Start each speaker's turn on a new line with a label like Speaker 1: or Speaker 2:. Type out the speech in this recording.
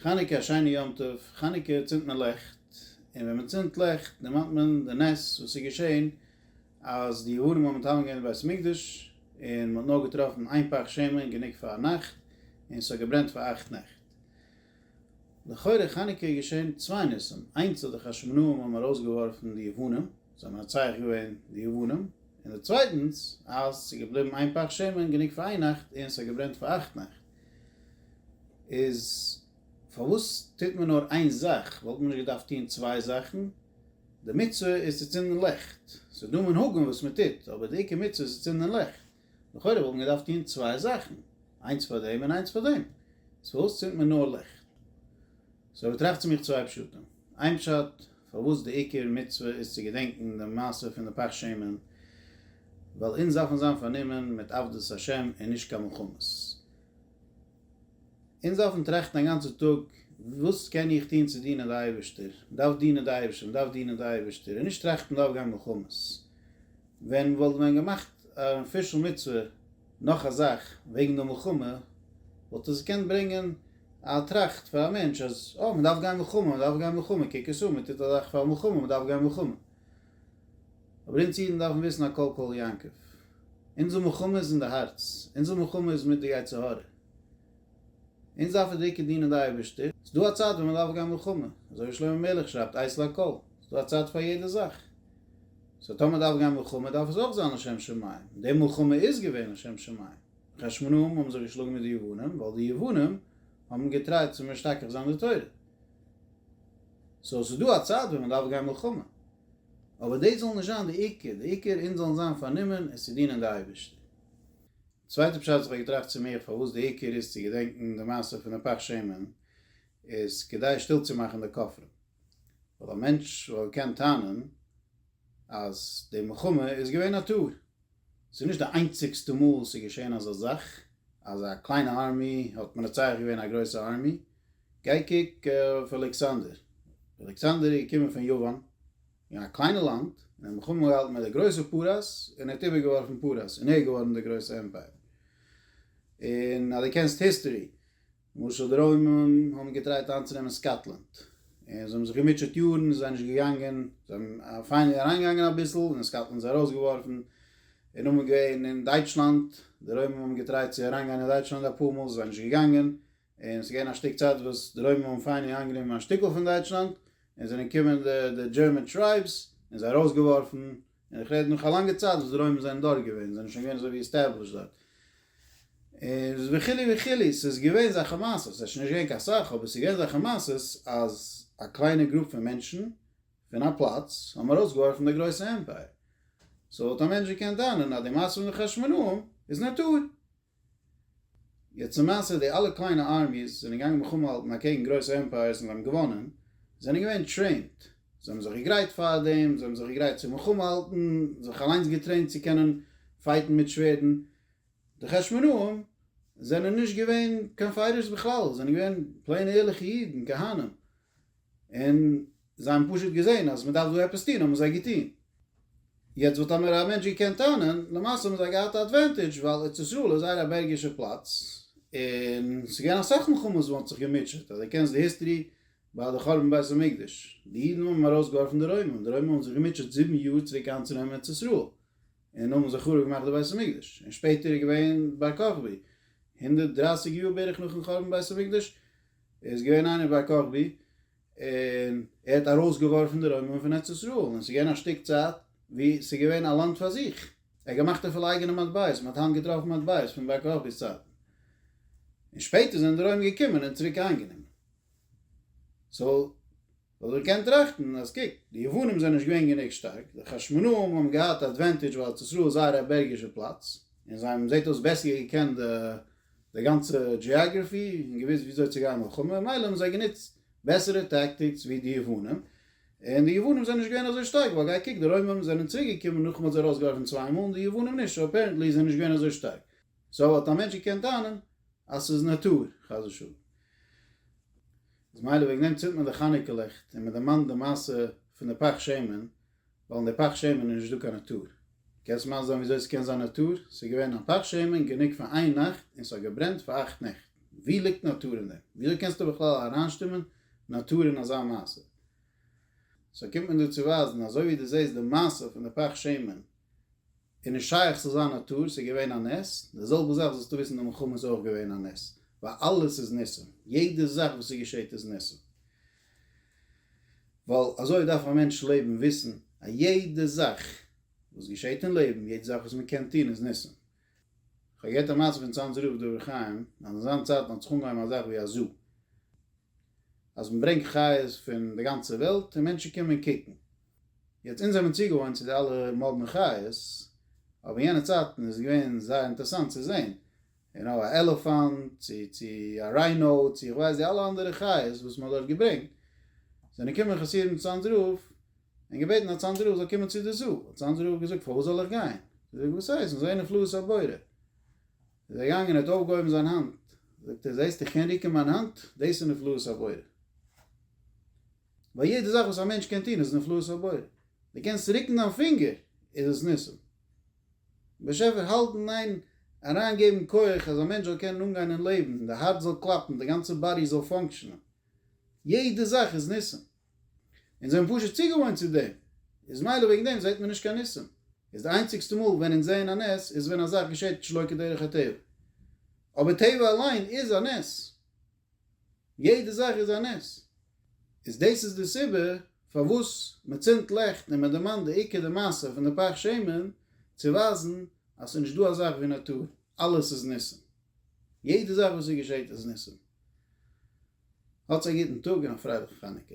Speaker 1: חנוכה א שיינע יום טוב, חנוכה צינדט מען לעכט, און ווען מען צינדט לעכט דערמאנט מען די נס וואס איז געשען אז די יוונים האבן מתאמן געווען די בית המקדש און מען האט נאר געטראפן איין פך שמן גענוג פאר א נאכט און עס האט געברענט פאר אכט נעכט. לכאורה חנוכה איז געשען צוויי ניסים, איינס אז די חשמונאים האבן ארויסגעווארפן די יוונים, זיי האבן מנצח געווען די יוונים, און די צווייטנס אז עס איז געבליבן איין פך שמן גענוג פאר איין נאכט און עס האט געברענט פאר אכט נעכט. איז פארוואס טוט מען נאר איין זאך? וואלט מען נישט געדארפט טון צוויי זאכן? די מצוה איז צו צינדן ליכט, ס'איז דא מנהגים וואס מען טוט, אבער די עיקר מצוה איז צו צינדן ליכט, לכאורה וואלט מען געדארפט טון צוויי זאכן, איינס פאר דעם און איינס פאר דעם, איז פארוואס צינדט מען נאר ליכט? סאו איך טראכט צו מיך צוויי פשטים, איין פשט, פארוואס די עיקר מצוה איז צו געדענקן די מעשה פון די פך שמן, ווייל אונז דארפן זיין פארנומען מיט עבדות השם און נישט קיין מלחמות. אונז דארפן טראכטן א גאנצע טאג וואס קען איך טון צו דינען די אייבערשטער, מען דארף דינען די אייבערשטער, מען דארף דינען די אייבערשטער, און נישט טראכטן מען דארף גיין מלחמות, ווען וואלט מען געמאכט א אפישעל מצוה נאך א זאך וועגן די מלחמה, וואלט דאס געקענט ברענגען א טראכט פאר א מענטש אז אה, מען דארף גיין מלחמה, מען דארף גיין מלחמה, קוק עס אן, מען טוט א זאך פאר מלחמה, מען דארף גיין מלחמה. אבער אונז אידן דארפן וויסן א קול קול יעקב, אונזער מלחמה איז אין די הארץ, אונזער מלחמה איז מיט די יצר הרע. אונז דארפן דיקא דינען די אייבערשטער, ס'איז דא א צייט ווען מ'דארף גיין מלחמה, אזוי ווי שלמה המלך שרייבט עת לכל, ס'איז דא א צייט פאר יעדע זאך, סאו טאמער מ'דארף גיין מלחמה דארף עס אויך זיין לשם שמים, און די מלחמה איז געווען לשם שמים, חשמונאים האבן זיך געשלאגן מיט די יוונים ווייל די יוונים האבן געטרייט צו משתכח זיין די תורה, סאו ס'איז דא א צייט ווען מ'דארף גיין מלחמה, אבער דאס זאל נישט זיין די עיקר, די עיקר אונז זאלן זיין פארנומען עס צו דינען די אייבערשטער. צווייטע פשט וואס איך האב געטראכט צו מיר פארוואס די עיקר איז צו געדענקן די מעשה פון די פך שמן איז כדי שטיל צו מאכן די כופרים ווייל א מענטש וואלט געקענט טענה'ן אז די מלחמה איז געווען א טעות ס'איז נישט די איינציגסטע מאל ס'איז געשען אזא זאך אז א קליינע ארמי האט מנצח געווען א גרויסע ארמי גיי קוק אויף אלעקסאנדער אלעקסאנדער איז געקומען פון יוון אין א קליינע לאנד, און האט מלחמה געהאלטן מיט די גרויסע פרס, און ער האט איבערגעווארפן פרס, און ער איז געווארן דער גרויסע עמפייער. און אז דו קענסט היסטערי, למשל די רוימען האבן געטרייט איינצונעמען סקאטלענד, און זיי האבן זיך געמוטשעט יארן, און עס איז זיי נישט געגאנגען, זיי האבן פיינעלי אריינגעגאנגען אביסל, און סקאטלענד איז ארויסגעווארפן, און נאכדעם געווען אין דייטשלאנד, די רוימען האבן געטרייט צו אריינגיין אין דייטשלאנד אפאר מאל, עס איז זיי נישט געגאנגען, און ס'איז געווען א שטיק צייט וואס די רוימער האבן פיין איינגענומען א שטיקל פון דייטשלאנד, און זענען געקומען די די דזשערמען טרייבס און זיי ארויסגעווארפן, און איך רעד נאך א לאנגע צייט וואס די רוימער זענען דארט געווען, זענען שוין געווען אזוי ווי עסטעבלישט דארט, און וכו' וכו', ס'איז געווען זאכע מעשות, ס'איז שוין נישט געווען קיין סאך, אבער ס'איז געווען זאכע מעשות אז א קליינע גרופ פון מענטשן פון א פלאץ האבן ארויסגעווארפן די גרויסע עמפייער, סאו וואלט א מענטש געקענט טענה'ן אז די מעשה מיט די חשמונאים איז נאטור. יעצט צום מעשה, די אלע קליינע ארמיס זענען געגאנגען מלחמה האלטן אקעגן גרויסע עמפייערס און זיי האבן געוואנען, זיי זענען געווען טרעינט, זיי האבן זיך געגרייט פאר דעם, זיי האבן זיך געגרייט צו מלחמה האלטן, זיך אליינס געטרעינט צו קענען פייטן מיט שווערדן, די חשמונאים זענען נישט געווען קיין פייטערס בכלל, זיי זענען געווען פלעינע ערליכע אידן, כהנים. און זיי האבן פשוט געזען אז מען דארף דא עפעס טון האבן זיי געטון. יעצט וואלט טאמער א מענטש געקענט טענה'ן, למעשה האבן זיי געהאט א אדווענטידזש ווייל ארץ ישראל איז זייער א בערגישע פלאץ, און ס'איז געווען אסאך מלחמות וואו מען האט זיך געמוטשעט, אז דו קענסט די היסטערי ביי די חורבן בית המקדש, די אידן האבן ארויסגעווארפן די רוימען, די רוימען האבן זיך געמוטשעט זיבן יאר צוריק איינצונעמען ארץ ישראל, און האבן זיי חרוב געמאכט די בית המקדש, און שפעטער איז געווען בר כוכבי, הונדערט דרײַסיק יאר בערך נאכן חורבן בית המקדש, ער איז געווען איינער ביי כוכבי, און ער האט ארויסגעווארפן די רוימען פון ארץ ישראל, און עס איז געווען א שטיק צייט ווי עס איז געווען א לאנד פאר זיך, ער האט געמאכט אפילו אייגענע מטבעות, מען האט היינט געטראפן מטבעות פון ביי כוכבי'ס צייטן, און שפעטער זענען די רוימער געקומען און צוריק איינגענומען, סאו. ווייל ער קען טראכטן אז קוק, די יוונים זענען נישט געווען גענוג שטארק, די חשמונאים האבן געהאט א עדווענטידזש ווייל ארץ ישראל איז זייער א בערגישע פלאץ, און זיי האבן זעט אויס בעסער געקענט די די גאנצע דזשיאגרעפי און געוויסט ווי אזוי צו גיין מלחמה, ממילא האבן זיי גענוצט בעסערע טעקטיקס ווי די יוונים, און די יוונים זענען נישט געווען אזוי שטארק, ווייל גיי קוק, די רוימען זענען צוריק געקומען נאך מען האט זיי ארויס געווארפן צוויי מאל, און די יוונים נישט, סאו אפערענטלי איז ער נישט געווען אזוי שטארק, סאו האט א מענטש געקענט טענה'ן אז ס'איז נאטור, חס ושלום. איז מילא וועגן דעם צינדט מען די חנוכה לעכט און מען דערמאנט די מעשה פון די פך שמן, ווייל אין די פך שמן איז נישט דא קיין נאטור. קענסט מסביר זיין וויאזוי ס'קען זיין נאטור? ס'איז געווען א פך שמן גענוג פאר איין נאכט און ס'האט געברענט פאר אכט נעכט, ווי ליגט נאטור אין דעם? וויאזוי קענסטו בכלל אריינשטומען נאטור אין אזא מעשה? סאו קומט מען דא צו ווייזן אזוי ווי דו זעסט די מעשה פון די פך שמן איז נישט שייך ס'זאל זיין א טעות, ס'איז געווען א נס, די זעלבע זאך זאלסטו וויסן די מלחמה איז אויך געווען א נס, ווייל אלעס איז ניסים, יעדע זאך וואס ס'געשעט איז ניסים, ווייל אזוי דארף א מענטש לעבן וויסן אז יעדע זאך וואס געשעט אין לעבן, יעדע זאך וואס מ'קען טון איז ניסים. כ'האב געהערט א מעשה פון צאנזער רב דברי חיים, אז אין זיין צייטן האט זיך אנגעהויבן א זאך ווי א זו, אז מ'ברענגט חיות פון די גאנצע וועלט און מענטשן קומען קוקן, יעצט אונז זעמיר צוגעוואוינט צו די אלע מאדנע חיות, אבער יענע צייטן איז געווען זייער אינטערסאנט צו זען, יו נאו, א עלעפאנט, צו צו א ריינאו, צו איך ווייס די אלע אנדערע חיות וואס מ'האט דארט געברענגט, זענען געקומען חסידים צו אנדרעו און געבעטן אז אנדרעו זאל קומען צו די זאא, האט אנדרעו געזאגט פארוואס זאל איך גיין? זאגט ער וואס הייסט? אונז זעען נפלאות הבורא. איז ער געגאנגען און האט אויפגעהויבן זיין האנט, זאגט ער זעסט איך קען ריקן מיין האנט, דאס איז נפלאות הבורא. ווייל יעדע זאך וואס א מענטש קען טון איז נפלאות הבורא, דו קענסט רוקן דיין פינגער איז עס ניסים, באשעפער האלטן איין, אריין געבן כח אז א מענטש זאל קענען אנגיין אין לעבן און די הארץ זאל קלאפן, די גאנצע באדי זאל פאנקשענען, יעדע זאך איז ניסים, אונז זענען פשוט צוגעוואוינט צו דעם, איז מילא וועגן דעם זעט מען נישט קיין ניסים, איז די איינציגסטע מאל ווען אונז זעען א נס איז ווען א זאך געשעט שלא כדרך הטבע, אבער טבע אליין איז א נס, יעדע זאך איז א נס. איז דאס איז די סיבה פארוואס מען צינדט לעכט און מען דערמאנט די עיקר די מעשה פון די פך שמן צו ווייזן אז ס'איז נישט דא א זאך ווי נאטור, אלעס איז ניסים. יעדע זאך וואס ס'געשעט איז ניסים. האטס א גוטן טאג און א פרייליכן חנוכה.